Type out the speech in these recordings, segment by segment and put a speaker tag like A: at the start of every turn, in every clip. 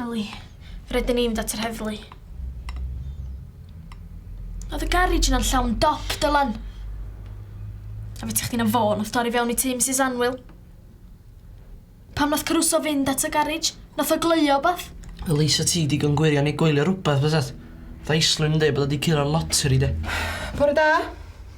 A: Ellie, rydyn ni'n mynd at yr heddlu. Oedd y garej yna'n llawn dop, Dylan. A fe ti chdi'n fo, nath dorri fewn i tŷ Mrs Anwyl. Pam nath Caruso fynd at y garej? Nath o gleio bath? Ellie, sa ti digon gwirion i gwylio rhywbeth, fyset? Tha Islwyn yn dweud bod o wedi curo'r loteri, de. Bore da.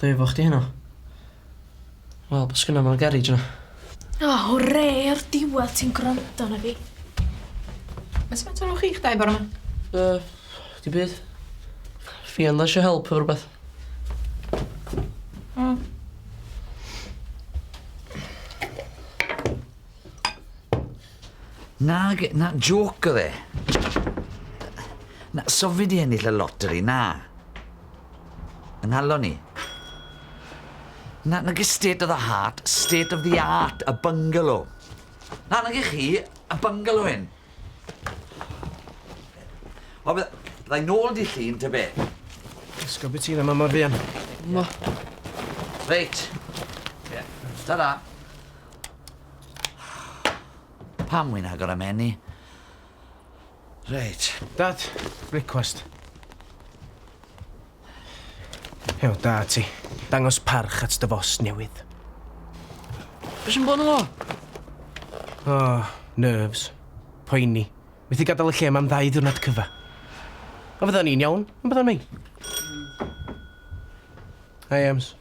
A: Pwy efo chdi heno? Wel be sgynno mewn garej yna? O hwre o'r diwedd ti'n gwrando arna fi. Be sgynt efo chi'ch dau bora ma? Yy dim byd. Ffion isio help efo rwbeth. O. Nag, na joc oedd e. Na, sofi di ennill y lottery, na. Yng nghalon ni. Na, nage state of the heart, state of the art, y bungalow. Na, nage chi, y bungalow hyn. O, byddai nôl di llun, ta be? Ysgol beth ti'n yma mor fuan? Mo. Reit. Ie. Ta-da. Pam wy'n agor am enni? Reit. Dad, brecwast. Hew, da ti. Dangos parch at dy fos newydd. Be sy'n bod yn lo? O, nerves. Poeni. Methu gadael y lle yma am ddau ddiwrnod cyfa. A fydda ni'n iawn, yn bydda ni? Hi, Ems.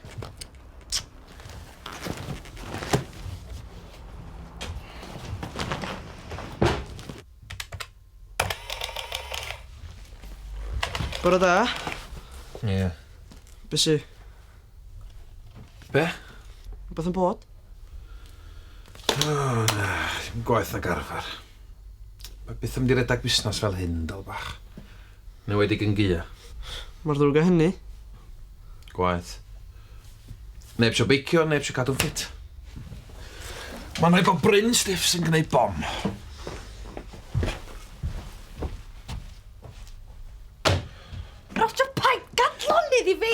A: Bore da. Ie. Yeah. Be sy? Be? Beth yn bod? Oh, na, dim gwaith ag arfer. Mae beth yn mynd i redag busnes fel hyn, dal bach. Yn enwedig yn Gia. Mor ddrwg â hynny? Gwaeth. Neb isio beicio, neb isio cadw'n ffit. Mae'n rhaid bod Bryn Stiff sy'n gwneud bom. Roger, paid gadloni iddi fi!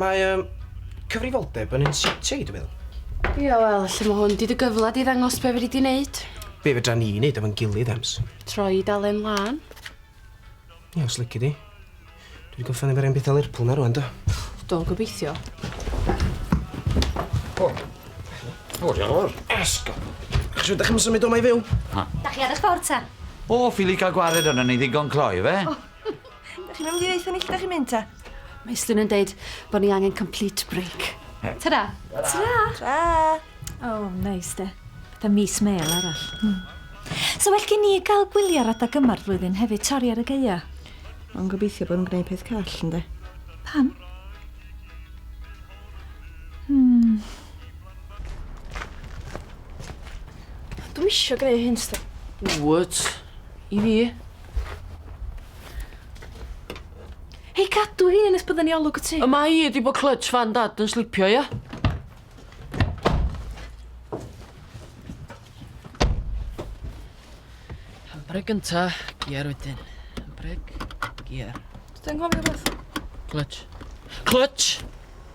A: Mae um, cyfrifoldeb yn un sitiau, dwi'n meddwl. Ia, wel, lle mae hwn di dy gyfle di ddangos be fyddi di wneud? Be fedra ni wneud efo'n gilydd, Ems? Troi dalen lan. Ia, os lygu di. Dwi wedi gorffen efo'r un bethau Lerpwl na rwan, do? Do, gobeithio. O, o, diolch yn fawr. Esgo. Chos ydych Dych chi'n mynd i ddeitha ni lle dych chi'n mynd ta? Mae Islwyn yn deud bod ni angen complete break. Ta-ra! Ta-ra! Ta! Oh, neis de. Fatha mis mêl arall. Mm. So well gen ni gael gwylio ar adag yma'r flwyddyn hefyd, torri ar y geia. Ond gobeithio bod yn gwneud peth call, ynddo? Pam? Hmm. Dwi eisiau gwneud hyn, sto. Wyt. I fi. Hei, cadw hi nes bydden ni olwg y ti. Y mae hi wedi bod clutch fan dad yn slipio, ia? Breg gynta, giar wedyn. Breg, giar. Dwi'n gofio beth. Clutch. Clutch!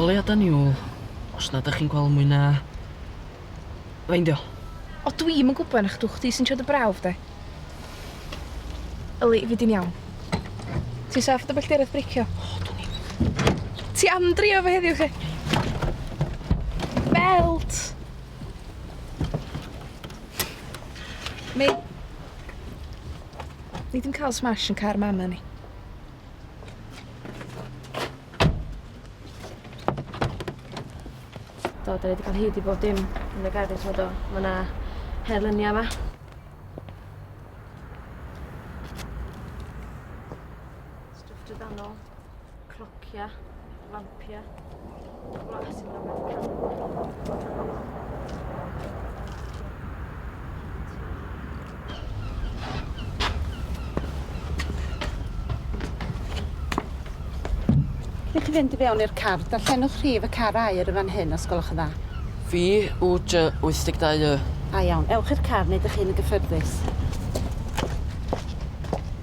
A: Goleuadau niwl, os na dych chi'n gweld mwy na... Feindio. O dwi'm yn gwybod na chdw chdi sy'n trio dy brawf de. Yli, fi di'n iawn. Ti'n saff o dy belltiraeth breicio? O, dwn i. Ti am drio fo heddiw 'lly? Belt! Mi... Ni ddim cael smash yn car mam ni. Do, da ni wedi cael hyd i bob dim yn y garej fod o. Mae yna her lyniau yma. Stwff drydanol, clocia, lampia, glas yn Ydych chi fynd i fewn i'r car, darllenwch rhif y car air y fan hyn os gwelwch yn dda. Fi yw dy 82 y. A iawn, ewch i'r car neu ydych chi'n y gyffyrddus.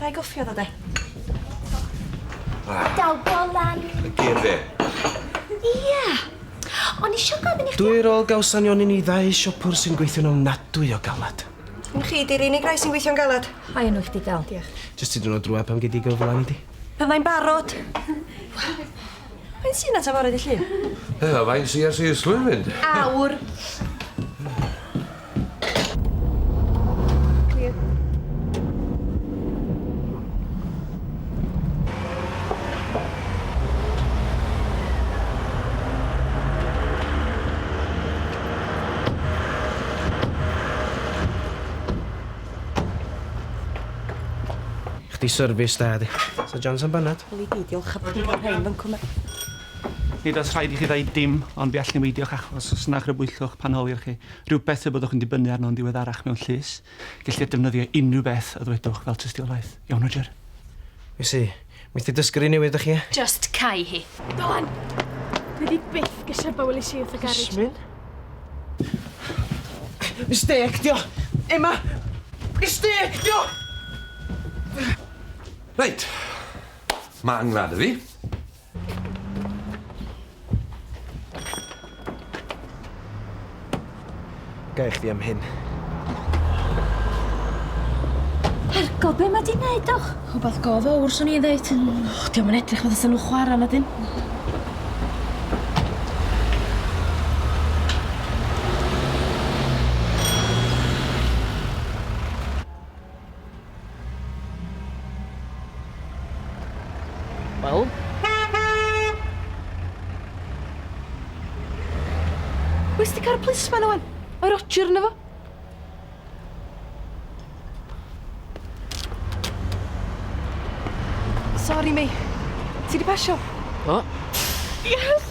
A: Rai goffi o ddo de. Rai. Daw bolan. Gyn fi. Ia. O'n i isio gofyn i chdi... Dwi rôl gawson ni o'n i ni ddau siopwr sy'n gweithio'n ofnadwy o galad. Dim chi 'di'r unig rai sy'n gweithio'n galad. Mae enw chdi dal. Diolch. Jyst tipyn o drwad pan gei di gyfla nei di? Fyddai'n barod. Faint sy 'na ta fore dy Llun? Yy faint sy ers i Islwyn fynd? Awr. Clír. Chdi service da di. Sa John San Bennett? Wel i gyd, diolch a bod yn cael rhain fan cwmna. Nid oes rhaid i chi ddweud dim, ond fe all niweidiwch achos os na chrybwyllwch pan holi'r chi rhywbeth fe byddwch yn dibynnu arno'n ddiweddarach mewn llys. Gellir defnyddio unrhyw beth y ddwedwch fel tystiolaeth. Iawn, Roger? Wnes i. Wnes ti dysgu'r un newydd, dych chi? Just cau hi. Dylan! Dwi di byth gyserba welis i wrth y garej. Yasmin? Mistêc dio! Emma! Mistêc dio! Reit. Ma'n ngwlad i fi. Gai chdi am hyn? Ergo, be mae di'n neud o? Rhywbeth go fawr, swn i'n ddeud. Och, diolch yn edrych fod y nhw chwarae na dyn. Wel. Wes ti car plisman owen? Mae Roger yna fo. Sorry, May. Ti di pasio? O. Yes!